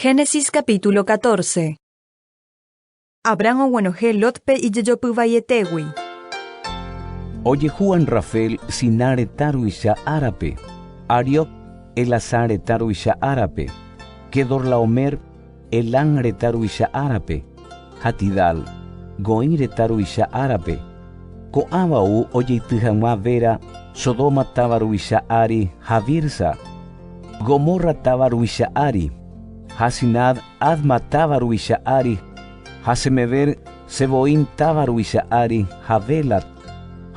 Génesis capítulo 14 Abraham oguenohẽ Lotpe ijejopy vaietégui. Ojehu Anrafel Siná retã ruvicha árape, Ariok Elasã retã ruvicha árape, Quedorlaomer Elam retã ruvicha árape, ha Tidal, Goim retã ruvicha árape. Ko'ãva ou ojeity hag̃ua Bera, Sodoma táva ruvicha ári, ha Birsa, Gomorra táva ruvicha ári, ha Sinad, Adma táva ruvicha ári, ha Semeber, Zeboim táva ruvicha ári, ha Bela,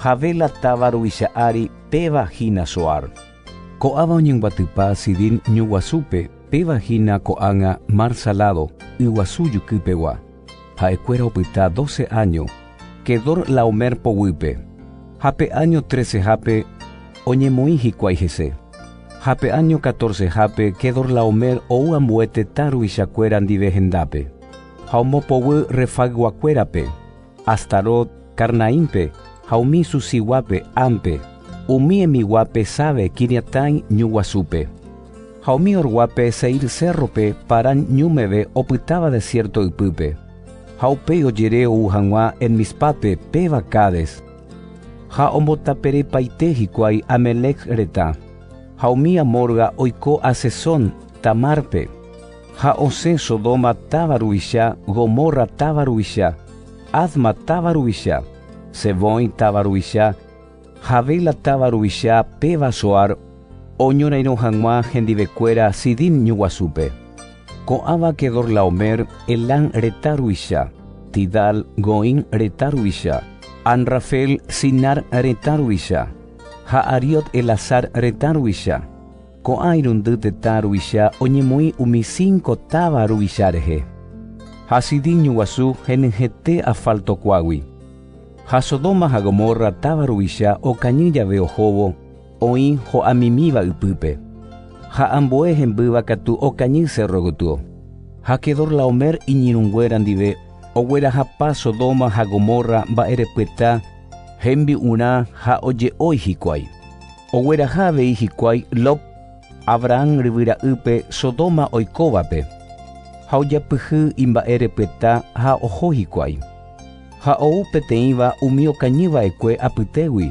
Javela táva ruvicha ári, péva hína Zoar. Ko'áva oñembyatypa Sidín ñu guasúpe, péva hína ko'ág̃a Mar Saládo, yguasu jukýpegua. Ha'ekuéra opyta doce áño, Quedorlaomer poguýpe, ha pe áño trecehápe oñemoĩ hikuái hese. Ha pe áño catorcehápe Quedorlaomer ou ambue tetã ruvichakuéra ndive hendápe, ha ombopoguy Refagguakuérape. Astarot, Karnaínpe, ha umi susiguápe Ámpe, umi emiguápe Sáve Quiriataim ñu guasúpe, ha umi orguápe Seír cérrope Parán ñu meve opytáva desiérto ypýpe, ha upéi ojere ou hag̃ua En-Mízpápe péva Cádes, ha ombotapereipaite hikuái Amélec retã, ha umi amorga oiko Hazezón Tamárpe. Ha osẽ Sodoma táva ruvicha, Gomorra táva ruvicha, Adma táva ruvicha, Zeboim táva ruvicha, Javela táva ruvicha péva Zoar oñorairõ hag̃ua hendivekuéra Sidim ñuguasúpe. Ko'ãva Quedorlaomer, Elam retã ruvicha, Tidal, Goim retã ruvicha, Anrafel, Sinar retã ruvicha, ha Ariot Elasar retã ruvicha. Ko'ã irundy tetã ruvicha oñemoĩ umi cinco táva ruvicha rehe. Ha Sidín ñuguasu henyhẽte asfaltokuágui. Ha Sodoma ha Gomorra táva ruvicha okañy jave ohóvo oĩ ho'amimíva ypýpe. Ha ambue hembýva katu okañy cérro gotyo. Ha Quedorlaomer iñirũnguéra ndive oguerahapa Sodoma ha Gomorra mba'erepyeta hembi'urã ha oje'ói hikuái. Ogueraha avei hikuái Lot Abrahán ryvy ra'ýpe Sodoma oikóvape, ha ojapyhy imba'e repyta ha oho hikuái. Ha ou peteĩva umi okañy va'ekue apytégui,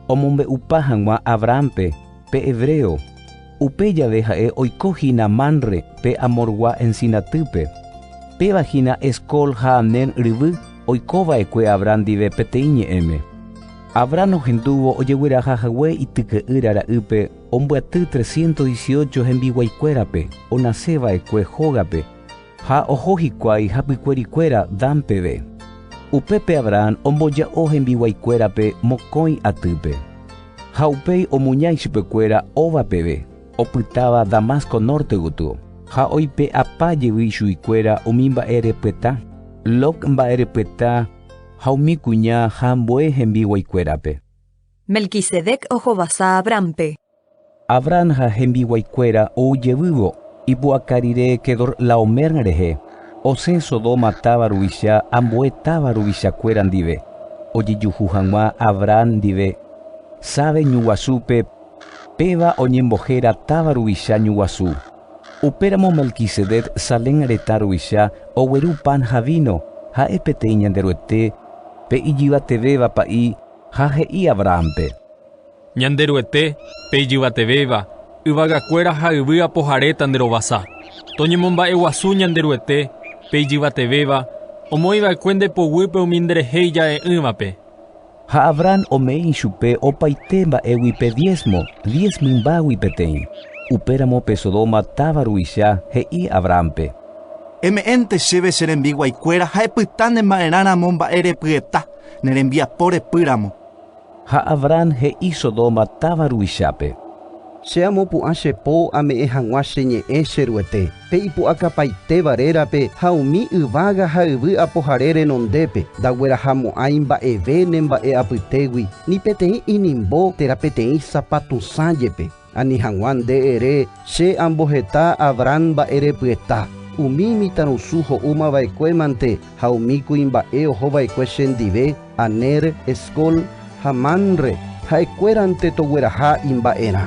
omombe'upa hag̃ua Abrahánpe, pe hebreo, upe jave ha'e oiko hína Manre pe Amorgua ensinatýpe, péva hína Escol ha Aner ryvy oiko va'ekue Abrahán ndive peteĩ ñe'ẽme. Abrahán ohendúvo ojegueraha hague ityke'ýra ra'ýpe ombyaty trescientos dieciocho hembiguaikuérape onase va'ekue hógape, ha oho hikuái hapykuerikuéra Dan peve. Upépe Abrahán omboja'o hembiguaikuérape mokõi atýpe, ha upéi omuña ichupekuéra óva peve, opytáva Damasco norte gotyo, ha oipe'apa jevy ichuguikuéra umi mba'e repyeta, Log mba'e repyeta, Ha umi kuña ha ambue hembiguaikuérape. Melquisedec ohovasa Abránpe. Abrán ha hembiguaikuéra ou jevývo ipu'aka rire Quedorlaomer rehe, osẽ Sodoma táva ruvicha ambue táva ruvichakuéra ndive, ojejuhu hag̃ua Abrán ndive Save ñuguasúpe, péva oñembohéra táva ruvicha ñuguasu. Upéramo Melquisedec Salem retã ruvicha ogueru pan ha víno, ha'e peteĩ Ñanderuete, pe ijyvatevéva Pa'i, ha he'i Abrahánpe. Ñanderuete, pe ijyvatevéva, yvagakuéra ha yvy apoharéta nde rovasa. Toñemomba'eguasu Ñanderuete, pe ijyvatevéva, omoĩva'ekue nde poguýpe umi nderehe ija'e'ỹvape. Ha Abraham ome'i ichupe opaite mba'égui pe diésmo, diez mymbágui peteĩ. Upéramo pe Sodoma táva ruvicha he'i Abrahámpe. Eme'ẽnte chéve che rembiguaikuéra ha epyta ne ma'erã ramo mba'e repyeta, ne rembiapo repy ramo. Ha Abraham he'i Sodoma táva ruvichápe. Che amopu'ã che po ame'ẽ hag̃ua che ñe'ẽ che Ruete. Pe ipu'akapaitéva rérape ha umi yvága ha yvy apohare renondépe, ndaguerahamo'ãi mba'eve ne mba'e apytégui, ni peteĩ inimbo térã peteĩ sapatusã jepe. Ani hag̃ua nde ere, Che amboheta Abrán mba'e repyeta, umi imitãrusu ho'úma va'ekue mante ha umi kuimba'e oho va'ekue che ndive, Aner, Escol ha Manre, ha'ekuérante togueraha imba'erã.